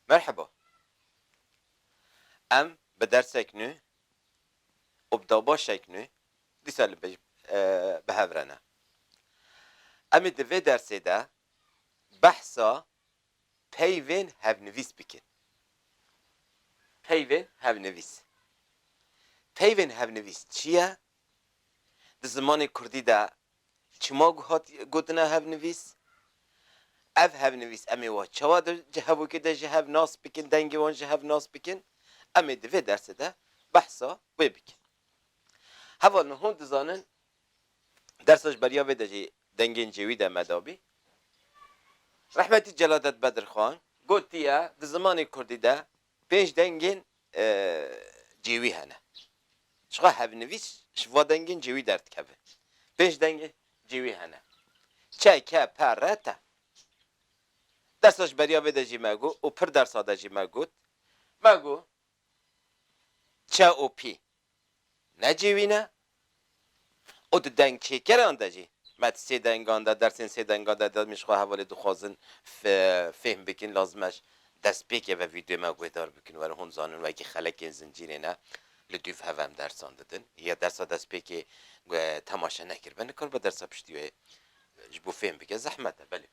Merheba. Em bi dersek nû û bi dabaşek nû dîsa li pêş bi hev re ne. Em ê di vê dersê de behsa peyvên hevnivîs bikin. Peyvên hevnivîs. Peyvên hevnivîs çi ye? Di zimanê kurdî de Çima ku hat gotina hevnivîs? Ev hevnivîs em ê wan çawa di hevokê de ji hev nas bikin, dengê wan ji hev nas bikin? Em ê di vê dersê de behsa wê bikin. Heval min hûn dizanin dersa ji beriya vê de jî dengên cêwî de me dabî. Rehmetî Celadet Bedirxan gotiye di zimanê kurdî de Pênc dengên cêwî hene. Çiqa hevnivîs ji va dengên cêwî derdikeve? Pênc dengê cêwî hene. Çe, ke, pe, re, te. Dersa ji beriya vê de jî me got û pir dersa de jî me got. Me got çe û pî. necêwîne û di dengçêkeran de jî me di sê dengan de dersên sê dengan de demên ji xwe hevalê dixwazin fêhm bikin lazim e destpêkê ve vîdeoyê me guhdar bikin werin hûn zanin wekî xelekên zincîrê ne li dûv hev em dersan didin ya dersa destpêkê temaşe nekiribe nikar be dersa piştî wê ji bo fêhm bike zehmet e belê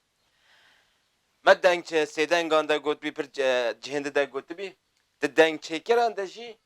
me deng sêdengan de gotibî pir cihên din de gotibî di dengçêkeran de jî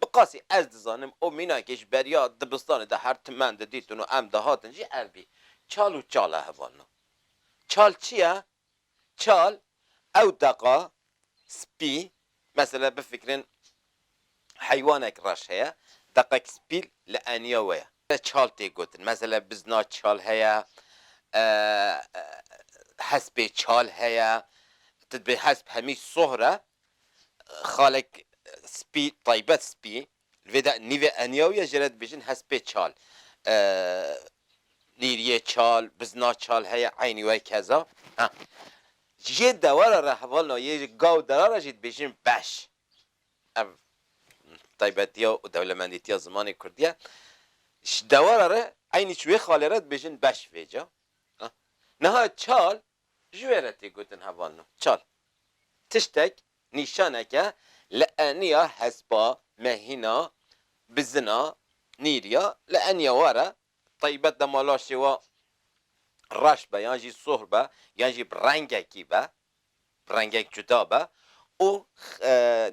Bi qasî ez dizanim û mînankê ji beriya dibistanê de her timen didîtin û em dihatin jî ev bî. Çal û çal e hevalina. Çal çi ye? Çal ew deqa spî, mesela bifikirin heywanek reş heye, deqek spî li eniya we ye. Te çal tê gotin. Mesela bizna çal heye, hespê çal heye. Tu dibê hesp hemî sohr e, Xalek spî taybet spî li vê de nîvê eniyaw ye jê re dibêjin hespê çal. Nîriyê çal, bizna çal heye eynî wê keza. Ha ji yê dewera re hevalina yê gaw dera re jî dibêjin beş. Ev taybetiya û dewlemendîtiya zimanê kurdî ye. Ji dewera re eynî ji wê xalê re dibêjin beş vê ca. Niha çal Ji wê re tê gotin heval no, çal. Tiştek, nîşaneke li eniya hespa, mehîna, bizina, nîriya, li eniya wa re, taybet dema laşê wa reş be yan jî soh be yan jî bi rengekî be, bi rengek cuda be û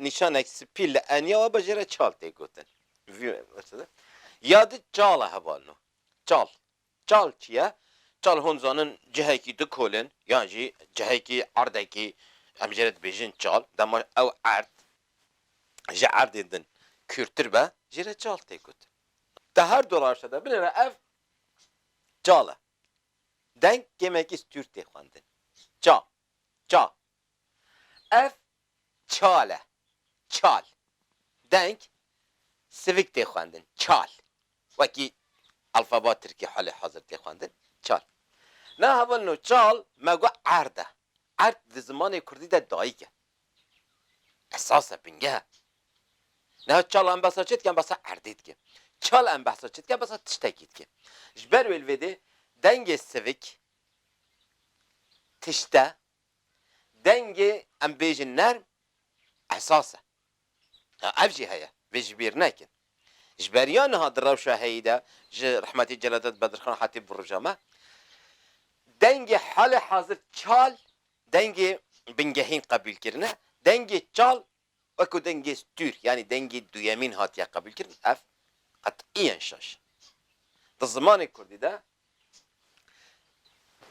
nîşanek spî li eniya wa be jê re çal tê gotin. Ya di çal e heval no, çal. Çal çi ye? Çal hûn dizanin cihekî du kolên yan jî cihekî erdekî em jê re dibêjin çal dema ew erd ji erdên din kûrtir be jê re çal tê gotin. Di her du rewşa de binêre ev çal e. Deng kêmekî stûr tê xwendin. Ça, ça, Ev çal e. Çal. Deng sivik tê xwendin. Çal. Wekî alfaba tirkî halê hazir tê xwendin. Çal. Na hevalino çal me got erd e. Erd di zimanê kurdî de dayik e. Esas e, bingeh e. Niha çal em behsa çi dikin? Behsa erdê dikin. Çal em behsa çi dikin? Behsa tiştekî dikin. Ji ber wê li vê dê dengê sivik tişt e, Dengê em bêjin nerm esas e. Ya ev jî heye, vê ji bîr nekin. Ji beriya niha di rewşa heyî de ji rehmetî Celadet Bedirxan Hatîp bi rûja me dengê halê hazir çal dengê bingehîn qebûlkirine, dengê çal Weke dengê stûr yanî dengê duyemîn hatiye qebûlkirin ev qetîyen şaş e. Di zimanê kurdî de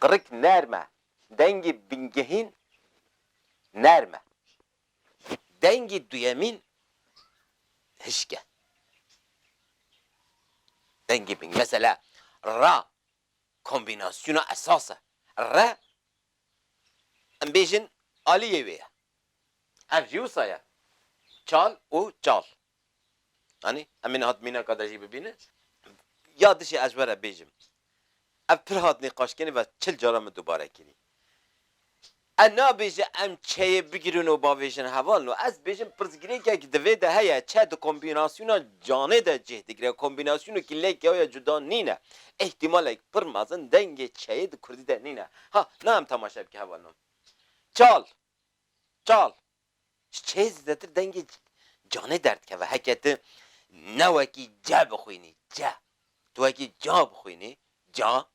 qirik nerm e, dengê bingehîn nerm e, dengê duyemîn hişk e. Dengê bingehîn mesela ra kombînasyona esas e. Re Em bêjin aliyê wê ye. Ev jî wisa ye. Çal û çal. Anî? Em ê niha mînaka de jî bibînin. Ya dişê ez were bêjim. Ev pir hat nîqaşkirin ve çil caran min dubare kirî. Ez nabêje em çeyê bigirin û bavêjin heval no. Ez bêjim pirsgirêkek di vê de heye, çe di kombînasyona canê de cih digire. Kombînasyonekî lê kewya cuda nîne. Îhtîmalek pir mezin dengê çeyê di kurdî de nîne. Ha, na em temaşe bike heva nan. Çal! Çal! Ji çêyê zêdetir dengê canê derdikeve. Heke ti ne wekî ce bixwînî, ce, tu wekî ca bixwînî, ca,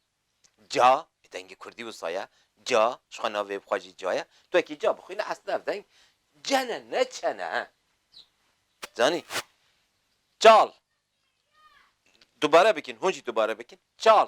ca, bi dengê kurdî wisa ye, ca, ji xwe navê bi xwe jî ca ye, tu wekî ca bixwînî eslê ev deng ce ne, ne çe ne. Zanî? Çal! Dubare bikîn, hûn jî dubare bikîn. Çal!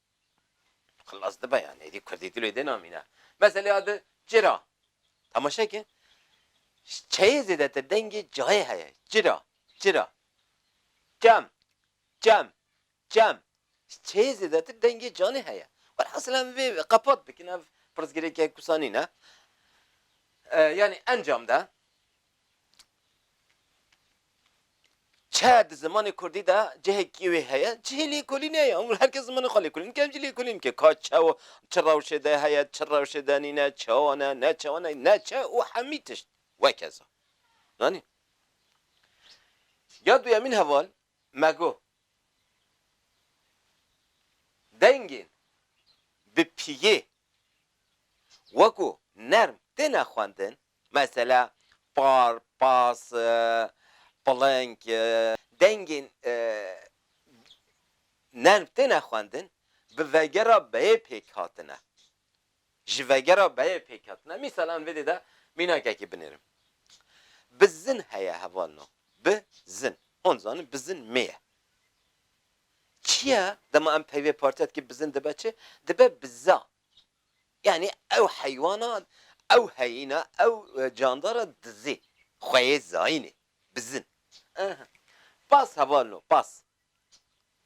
Xilas dibe yani êdî kurdî dilê dê namîne. Meselêya di ci ra. Temaşe ke çeyê zêdetir dengê cayê heye. Ci ra, ci ra. Cem, cem, cem. Çeyê zêdetir dengê canê heye. Welhasil em vê qepat bikin ev pirsgirêkek wisa nîne. Yani encam de Çiya di zimanê kurdî de cihekî wê heye, cihê lêkolînê ye û her kes zimanê xwe lêkolîn dike, em jî lêkolîn dikin. Ka çi û çi rewşê de heye, çi rewşê de nîne, çawa ne, ne çawa ne, ne çi û hemî tişt wekeza. Zanî? Ya duyemîn heval me got, dengên bi piyê wekû nerm têne xwendin, Mesela, par, pas, piling, dengên nerm têne xwendin, bi vegera beyê pêk hatine, ji vegera beyê pêk hatine. Mîsal em vêdê de mînakekî binêrim. Bizin heye hevalno, bi zin. Hûn dizanin bizin mê ye. Çi ye? Dema em peyvê partiya dikê bizin dibe çi? Dibe biza. Yanî ew heywana, ew heyîna, ew candara dizê xwe yê zayînê bizin. Aha. Pas heval no, pas.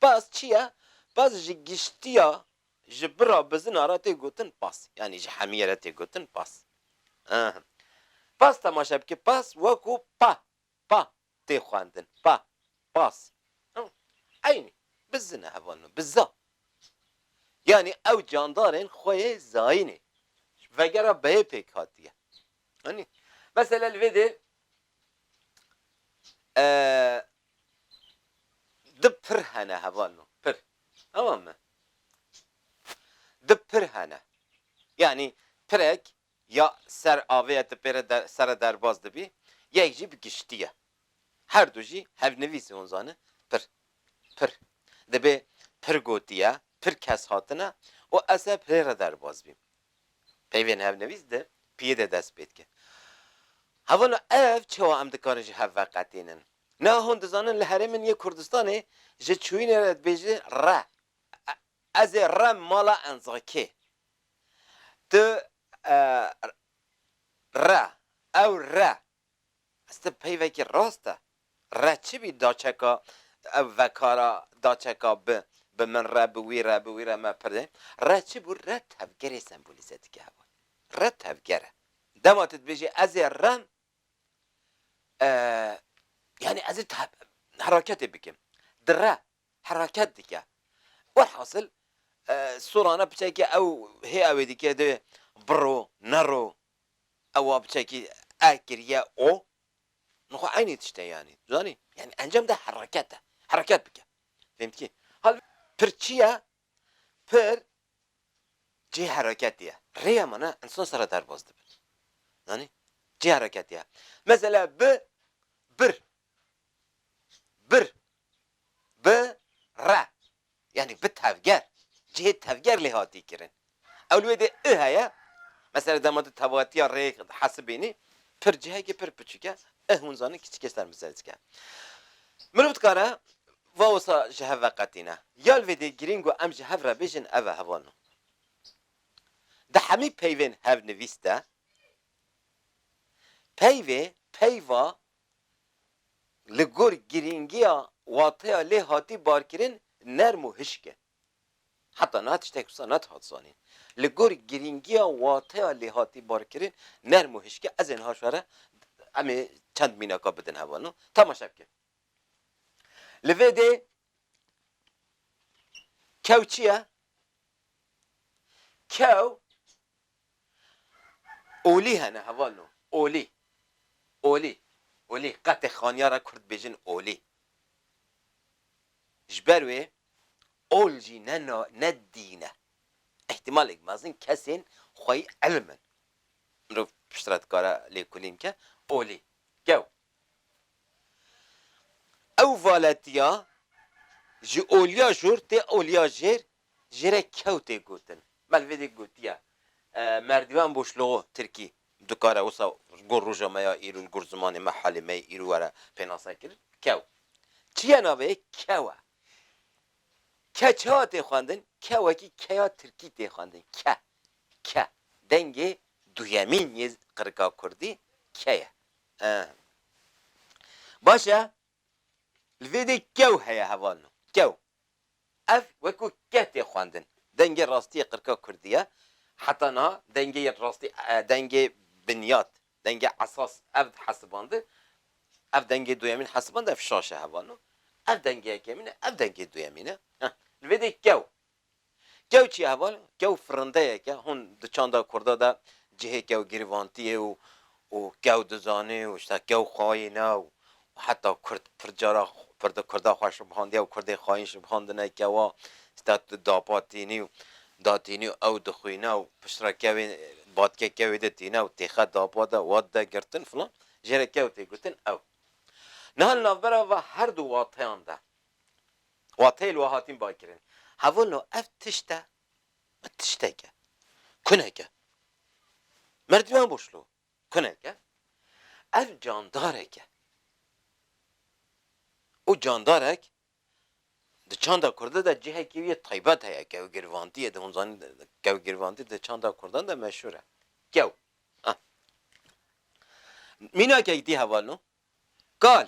Pas çi ye? Pas ji giştiya, ji bira bizina re tê gotin pas. Yanî ji hemiyê re tê gotin pas. Aha. Pas temaşe bike, pas wek û pa. Pa tê xwendin, pa, pas. Eynî, bi zi ne evanino, bi za. Yanî ew candarên xwe yê zayînê ji vegera beyê pêk hatiye. Anî? Mesela li vê dê du pir hene hevalino, pir. Tamam mi? Du pir hene. Yanî pirek Ya ser avê ye ti pê re der ser re derbas dibî, yek jî bi giştî ye. Her du jî hevnivîsî hûn zane pir. Pir. Dibê pir gotiye, pir kes hatine û ez ser pirê re derbas bîm. Peyvên hevnivîs di piyê de dest pê dike. Hevalo ev çewa em dikarin ji hev veqetînin? Niha hûn dizanin li herêmin yê Kurdistanê ji çûyînê re dibêjin re. Ez ê rem mala enzikê. Tu re, ew re. Ez ti peyvekî rast e. Re çi bî daçeka ew vekara daçeka bi bi min re bi wî re bi wî re me pirdê. Re çi bû re tevgerê sembolîze dike hewa. Re tevger e. Dema tu dibêjî ez ê rem yanî ez ê heraketê bikim. Di re hereket dike. Werhasil Sorana piçeke ew hê ewê dike de biro nero ewa piçekî e kiriye o min xwe eynî tişt e yanî tu zanî yanî encam de hereket e hereket bike fêm dikî hal pir çi ye pir cihê hereketê ye rêya min e insan sere derbas dibin zanî cihê hereketê ye mesela bi bir Bir, bi re yanî bi tevger, cihê tevger lê hatî kirin. Ew li wê de i heye, mesela dema tu tevatiya rêyek dihesibînî, pir cihekî pir piçik e, i hûn zanîn kiçikê ser bi ser dike. Mirov dikare va wisa ji hev veqetîne. Ya li vê de girîng ku em ji hev re bêjin ev e, heval o. Di hemî peyvên hevnivîs de peyvê peyva li gor girîngiya wateya lê hatî barkirin nerm û hişk e. Heta niha tiştek wisa nedihat zanîn. Li gor girîngiya wateya lê hatî barkirin nerm û hişk e, ez ê niha şere em ê çend mînaka bidin hevalin û temaşe bikin. Li vê dê kew çi ye? Kew Olî hene heval no. Olî. Olî. Olî. Qetê xaniya ra kurd dibêjin olî. Ji ber wê ol jî ne na ne dîn e. Îhtîmalek mezin kesên xweyî îlim in. Mirov pişt re dikare lêkolîn bike. Olî. Gew. Ew valetiya ji oliya jor tê oliya jêr Ji re kew tê gotin. Melvêdê gotiye, Merdivan boş logo, tirkî, dikare wisa gor roja me ya îro li gor zimanê me, halê me yê îro were pênase kirin. Kew. Çi ye navê yê? Kew e. Ke çawa tê xwendin? Ke wekî keya tirkî tê xwendin. Ke. Ke. Dengê duyemîn yê qirika kurdî ke ye. Eeh. Baş e, Li vê dê kew heye hevalno, kew. Ev wekû keh tê xwendin. Dengê rastî yê qirka kurdî ye. Heta niha dengê yên rastî, dengê binyat, dengê esas ev dihesibandi. Ev dengê duyemîn hesibandi, ev şaş e hevalno. Ev dengê yekemîn e, ev dengê duyemîn e. Heh, li vê dê kew. Kew çi ye heval? Kew firindeyek e. Hûn di çanda kurda de cihê kew girîvantî ye û û kew dizane û îşta kew xayîn e û heta kurd pir cara pir di kurda xwe şibihandiye û kurdê xayîn şibhandine kewa îşta tu dapa tînî û da tînî û ew dixwîne û piştre kevê batkê kewê de tîne û têxe dapa de wat de girtin filan jê re kew tê gotin ew. Niha li navbera va her du wateyan de Wateyê li we hatin bakirin. Hevûno ev tişt e? Ev tiştek e. Kunek e. Merdiven boşlo. Kunek e. Ev candarek e. Û candarek di çanda kurda de cihekî wî yê taybet heye. Kewgirvantî yê di hûn zanîn kewgirvantî di çanda kurdan de meşhûr e. Kew. Mînakek dî hevalno. Kal.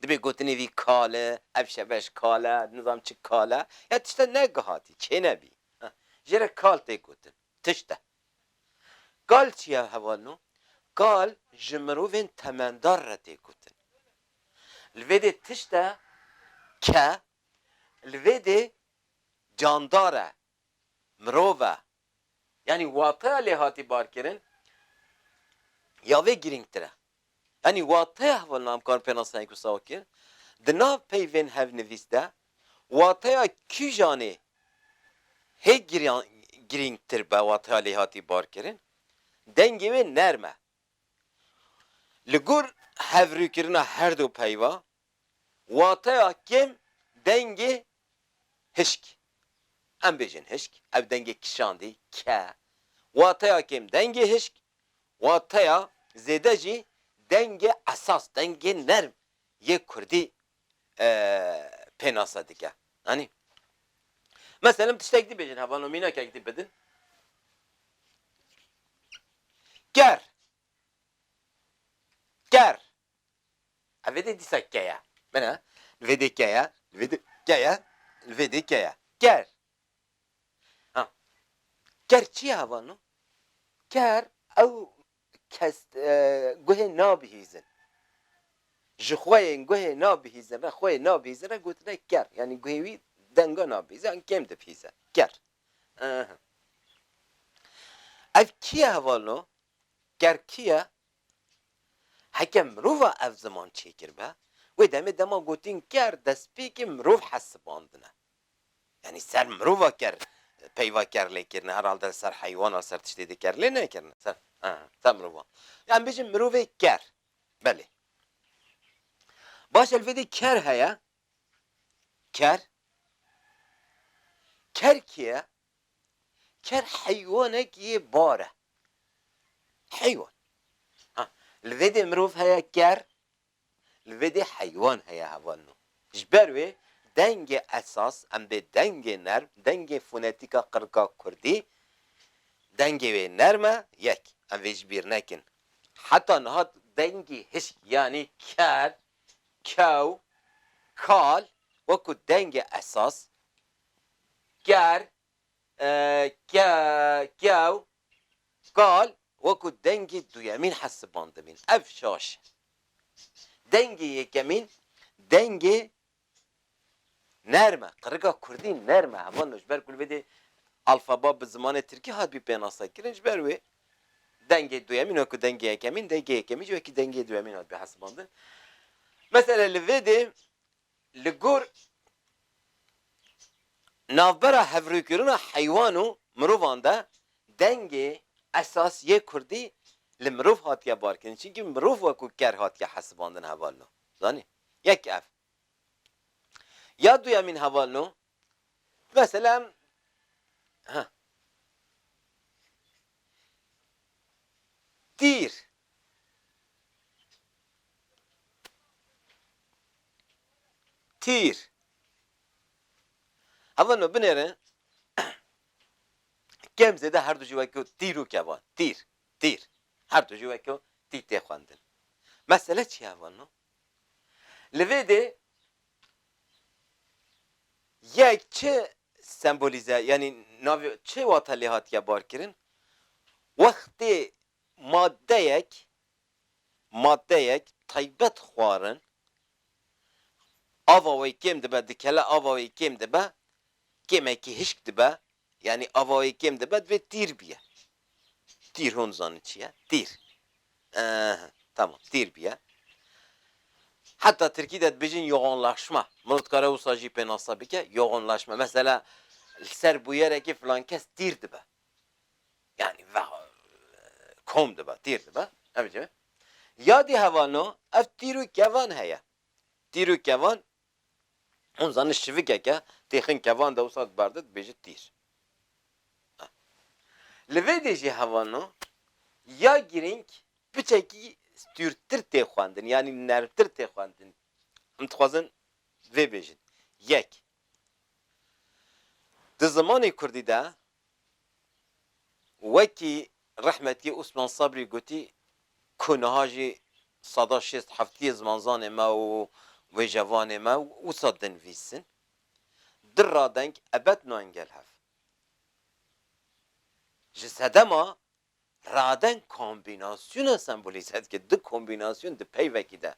Dibê gotinê vî kale, ev şeveş kale, nizam çi kale, ya tişte negihatî, çênebî. Jê re kal tê gotin. Tişt e. Kal çi ye hevalino? Kal ji mirovên temendar re tê gotin. Li vê dê tişt e ke li vê dê candar e, mirov e. Yanî wateya lêhatî barkirin ya vê girîngtir e. Yanî wateya hevalnamekarin pênasnayîn ku Saw kir, di nav peyvên hevnivîs de wateya kîjanê hê girîngtir be wateya lêhatî barkirin, dengê wê nerm e. Li gor hevrûkirina herdu peyva Wateya kêm dengê hişk. Em bêjin hişk, ev dengê kişandî, ke. Wateya kêm dengê hişk, wateya zêde jî dengê esas, dengê nerm yê kurdî pênase dike. Anî? Meselem tiştek dî bêjin hevano mînekek dî bidin. Ker. Ker. Ev vêdê dîsa ke ye. Bine, li vêdê ke ye, li vêdê ke ye, li vêdê ke ye. Ker. Ha. Ker çi ye heval no? Ker ew kes guhê nabihîzin. Ji xwe yên guhê nabihîzin re, xwe yê nabihîzin re gotine ker. Yanî guhê wî denga nabihîze yan kêm dibihîze. Ker. Ehe. Ev kî ye heval no? Ker kî ye? Heke mirova ev ziman çêkiribe, wê demê dema gotin ker destpêkê mirov hesibandine. Yanî ser mirova ker peyva ker lê kirine, herhalde ser heywana ser tiştê di ker lê nekirine. Ser ser mirova. Ya em bêjin mirovê ker. Belê. Baş e li vê dê ker heye. Ker. Ker kê ye? Ker heywanek yê bar e. Heywan. Ha, li vê dê mirov heye ker, li vê dê heywan heye heval no. Ji ber wê dengê esas, em bê dengê nerm, dengê fonetîk a qirika kurdî, dengê wê nerm e, yek. Em vê ji bîr nekin. Heta niha dengê hişk yanî ker, kew, kal, wek ku dengê esas, Ker, ke, kew, kal wekû dengê duyemîn hesibandibîn. Ev şaş e. Dengê yekemîn dengê nerm e. Qirika kurdî nerm e. Heval no ji ber ku li vê dê alfaba bi zimanê tirkî hatibî pênasekirin ji ber wê dengê duyemîn wekû dengê yekemîn, dengê yekemîn jî wekî dengê duyemîn hatibî hesibandin. Mesele li vê dê Li gor navbera hevrûkirina heywan û mirovan de dengê esasî yê kurdî li mirov hatiye barkirin çinkî mirov wekû ker hatiye hesibandin hevalno zanî yek ev ya duyemîn hevalno Mesela ha tîr tîr Heval no binêre kem zêde her du jî weke tîr û kevan tîr tîr her du jî weke tî tê xwendin. Mesele çi ye heval no? Li vê dê ye çi sembolîze yanî navê çi wate lê hatiye barkirin? Wextê maddeyek maddeyek taybet xwarin ava wê kêm dibe dikele ava wê kêm dibe kêmekî hişk dibe Yanî avayê kêm dibe divê tîr biye. Tîr hûn dizanin çi ye? Tîr. Eeh tamam tîr biye. Heta tirkî de dibêjin yoğunlaşma. Mirov dikare wisa jî pênase bike yoğunlaşma. Mesela li ser bûyerekê filan kes tîr dibe. Yanî kom dibe, tîr dibe. Em dibêjin. Yadî hevalno ev tîr û kevan heye. Tîr û kevan Hûn zanin şivikeke têxin kevan dewsa diberde dibêje tîr. Li vê dê jî hevano ya girîng piçekî stûrtir tê xwendin yanî nermtir tê xwendin. Em dixwazin vê bêjin. Yek, di zimanê kurdî de Wekî rehmetî Osman Sabrî gotî ku niha jî sada şêst heftiyê zimanzanê me û wêjevanê me wisa dinvîsin, di radeng ebed nayên gel hev. Ji sedema Raden kombînasyona sembolîze dike. Du kombînasyon di peyvekî de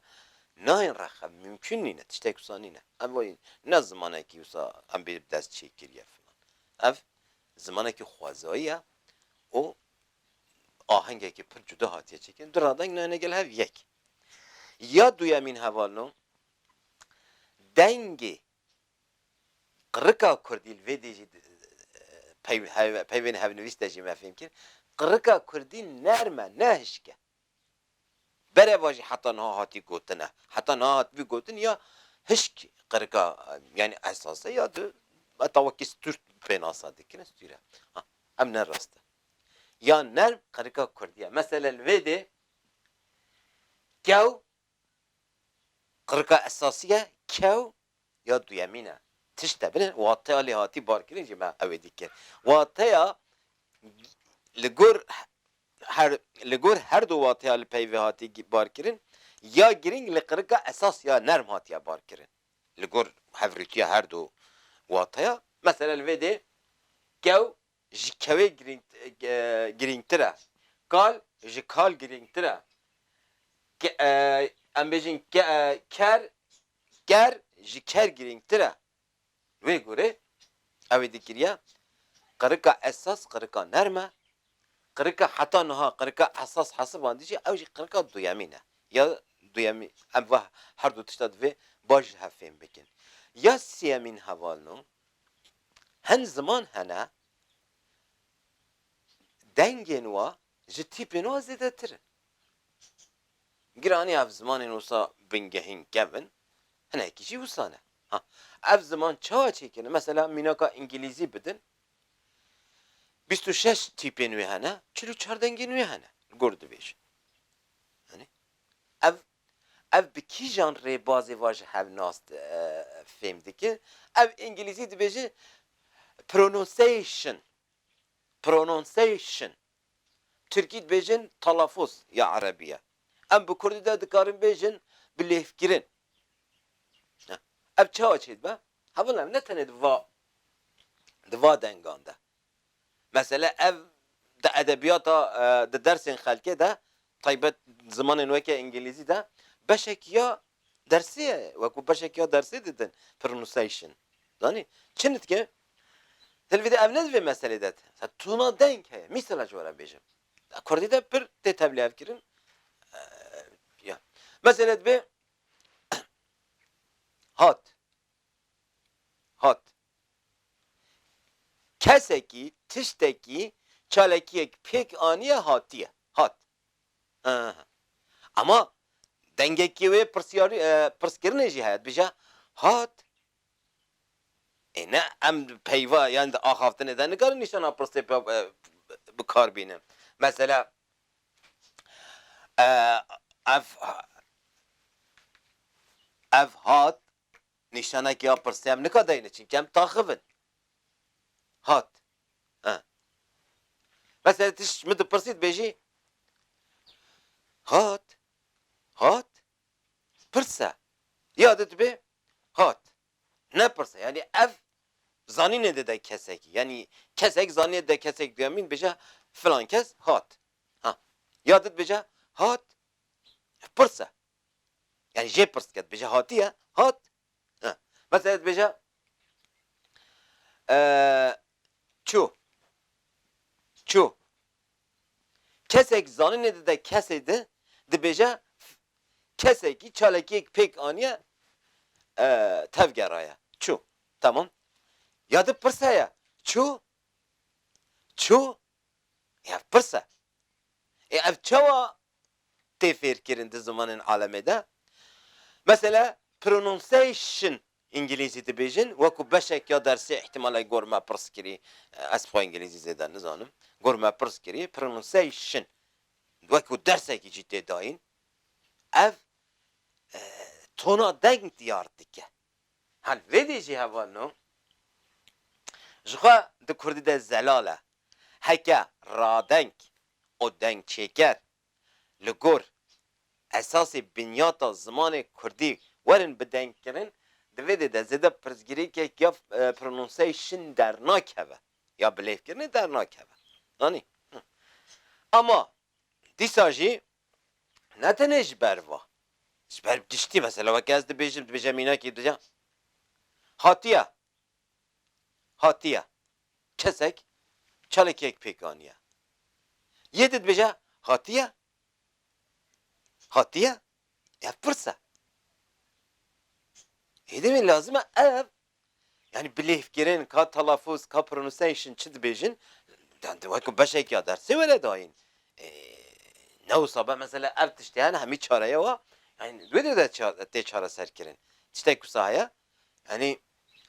nayên rexe. Mimkûn nîne. Tiştek wisa nîne. Ev wayî ne zimanekî wisa em bê bi dest çê kiriye filan. Ev zimanekî xwezayî ye û ahengekî pir cuda hatiye çêkirin. Du radeng nayêne gel hev yek. Ya duyemîn hevalno dengê Qirika kurdî li vê dî jî peyvên hevnivîs de jî me fêm kir, qirika kurdî nerm e ne hişk e. Bereva jî heta niha hatî gotin e. Heta niha hatibû gotin ya hişk qirika yanî esas e ya tu heta wekî stûr pênasa dikirin stûr e. Ha ev ne rast e. Ya nerm qirika kurdî ye. Mesele li vê dê kew Qirika esasî ye kew ya duyemîn e. Tişte bile wateya lêhatî barkirin jî me ew ê dikin. Wateya li gor her li gor her du wateya li peyvê hatî barkirin ya girîng li qirika esas ya nerm hatiye barkirin. Li gor hevrûtîya her du wateya, mesela li vê dê kew ji kewê girîngtir e, kal ji kal girîngtir e, em bêjin ker ker ji ker girîngtir e. Wê gorê ew ê dikiriye qirika esas qirika nerm e, qirika heta niha qirika esas hesibandî jî ew jî qirika duyemî ne ya duyemî em va her du tişta divê baş ji hev fêm bikin. Ya sêyemîn hevalno Hin ziman hene dengên wa ji tîpên wa zêdetir in. Giraniya ev zimanên wisa bingehîn kev in, hinekî jî wisa ne. Ha, ev ziman çawa çêkirin? Mesela mînaka îngîlîzî bidin, bîst û şeş tîpên wê hene, çil û çar dengên wê hene li gor dibêjin. Anî? Ev Ev bi kîjan rêbazê va ji hev nas fêm dike? Ev îngilîzî dibêje pronunciation, pronunciation. Tirkî dibêjin telafûz ya erebî ye. Em bi kurdî de dikarin bêjin bi lêvkirin. Ev çawa çêdibe? Hevil ne ne tenê di va di va dengan de. Mesele ev di edebiyata, di dersên xelkê de, taybet zimanên weke îngîlîzî de beşek ya dersê ye, wekû beşek ya dersê didin pronunciation zanî çi nitke dilvî de ev ne di vê meselê de te mesela tona deng heye mîsela ji we re bêjim kurdî de pir tê tevlihevkirin ya mesele dibê hat hat Kesekî, tiştekî, çalekiyek pêk aniye hatiye, hat. Hıhı. Ema dengekî wê pirsyarî, pirskirinê jî heye, dibêje, hat. Ê ne em peyva yan di axaftinê de nikarin nîşana pirsê bi kar bînin. Mesela ev, ev hat Nîşanekî ya pirsî em nikadayîne çinke em taxiv in. Hat. E. Meselê tişt ji min dipirsî dibêjî Hat. Hat. Pirse. Ya de dibê Hat. Nepirse. Yanî ev zanînê dide kesekî. Yanî kesek zanînê dide kesek duyemîn dibêje filan kes hat. Ha. Ya de dibêje Hat. Pirse. Yani jê pirs dike dibêje hatiye, hat. Ha. Mesela dibêje çû. Çû. Kesek zanînê di de kesê di dibêje kesekî çalekiyek pêk aniye tevgeraye. Çû. Tamam. Ya di pirs heye. Çû? Çû? Ê ev pirs e. Ê ev çawa tê fêrkirin di zimanên alemê de? Mesela pronunciation îngilîzî dibêjin wekû beşek ya dersê îhtimal e gor me pirs kirî, ez xwe îngilîzî zêde nizanim, gor me pirs kirî pronunciation wekû dersekî jî tê dayîn ev tona deng diyar dike. Hal vê dî jî heval no. Ji xwe di kurdî de zelal e. Heke radeng û dengçêker li gor esasê binyata zimanê kurdî werin bidengkirin, di vê dê de zêde pirsgirêkek ya pronunciation dernakeve ya bilêvkirinê dernakeve. Anî? Ama dîsa jî Ne tenê ji ber va. Ji ber giştî mesela weke ez dibêjim, dibêje mînakî dibêje hatiye, hatiye. Kesek çalakiyek pêk aniye. Yê di dibêje hatiye, hatiye. Ev pirs e. Êdî min lazim e ev Yanî bilêvkirin ka telafûz ka pronunciation çi dibêjin wek beşek ya dersê were dayîn. Ne wisa be mesela ev tiştê hene hemî çareye wa yanî wê dê de tê çareserkirin. Tiştek wisa heye yanî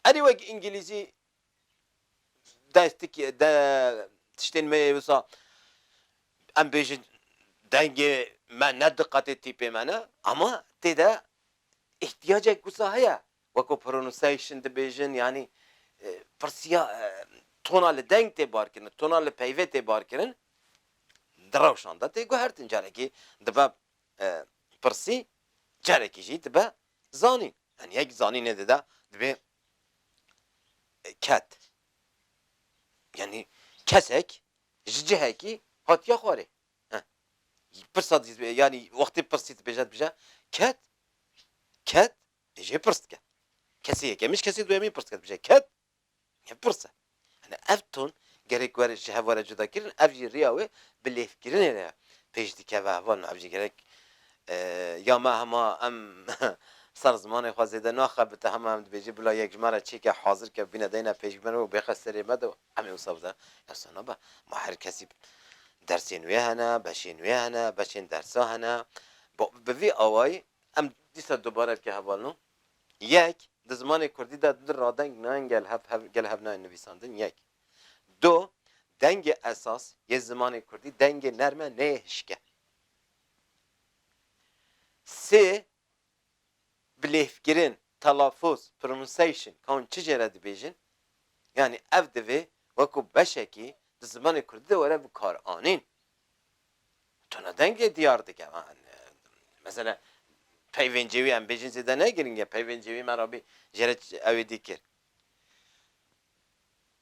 erê wek îngilîzî destki de tiştên me yê wisa em bêjin dengê me ne diqetê tîpê me ne ama tê de îhtiyacek wisa heye Weko pronunciation dibêjin yanî pirsiya tona li deng tê barkirin, tona li peyvê tê barkirin, di rewşan de tê guhertin. Carekî dibe pirsî, carekî jî dibe zanîn. Yanî yek zanînê dide dibê ket. Yanî kesek ji cihekî hatiye xwarê. Pirsa yanî wextê pirsî dibêje dibêje ket, ket, Dê jê pirs dike. Kesê yekemîn ji kesê duyemîn pirs dike, dibije ked? Ne pirs e. Hene ev ton gerek were ji hev were cudakirin, ev jî riya wê bi lêvkirinê re pêş dikeve heval na ev jî gerek ya me hema em ser zimanê xwe zêde naxebite hema em dibêjin bila yek ji me re çêke hazir ke bîne deyne pêş bi me re û bêxe serê me de em ê wisa bide. Ya wisa nabe. Ma her kesî dersên wê hene, beşên wê hene, beşên dersa hene. Bi vî awayî Em dîsa dubare dike hevalno. Yek, di zimanê kurdî de du radeng nayên gelhevnayên nivîsandin, yek. Du, dengê esas yê zimanê kurdî dengê nerm e neyê hişke. Sê, bilêvkirin, telafûz, pronunciation, ka hûn çi jê re dibêjin, yanî ev divê wekû beşekî di zimanê kurdî de were bikaranîn. Tona dengê diyar dike. Mesela peyvên cêwî em bêjin zêde ne giring e. Peyvên cêwî me re bî jê re ew ê dîkir.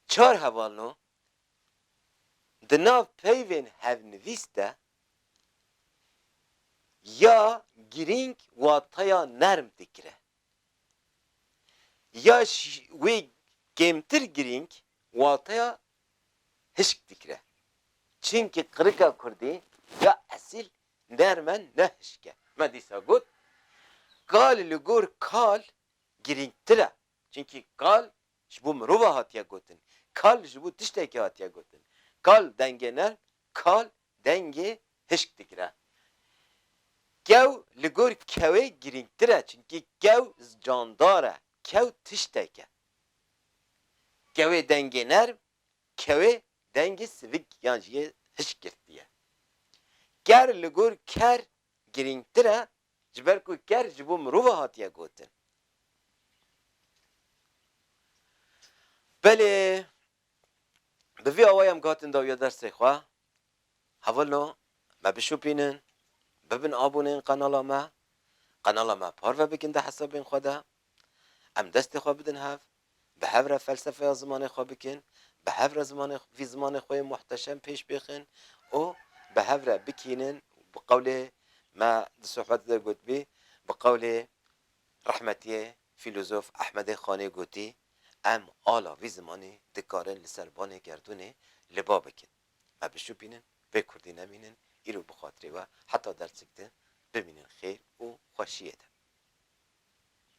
Çar heval no di nav peyvên hevnivîs de ya girîng wateya nerm dikire ya ji wê kêmtir girîng wateya hişk dikire. Çinki qirika kurdî ya esîl nerm e ne hişk e. Me dîsa got kal li gor kal girîngtir e. Çinki kal ji bo mirova hatiye gotin. Kal ji bo tiştekî hatiye gotin. Kal dengê nerm, kal dengê hişk digire. Kew li gor kewê girîngtir e. Çinki kew candar e. Kew tiştek e. Kewê dengê nerm, kewê dengê sivik yan jî yê hişk girtî ye. Ker li gor ker girîngtir e ji ber ku ker ji bo mirov e hatiye gotin. Belê Bi vî awayî em guhatin dawiya dersê xwe, Hevilno me bişopînin, bibin aboneyên qenala me, qenala me parve bikin di hesabên xwe de, em destê xwe bidin hev, bi hev re felsefeya zimanê xwe bikin, bi hev re zimanê vî zimanê xwe yê muhteşem pêş bêxin û bi hev re bikînin bi qewlê me di sohbetê de gotibî bi qewlê rehmetiyê Fîlozof Ehmedê Xanê gotî, Em ala vî zimanê dikarin li ser banê gerdûnê li ba bikin. Me bişopînin, vê kurdî nemînin, îro bi xatirê we heta derçik di, bimînin xêr û xweşiyê de.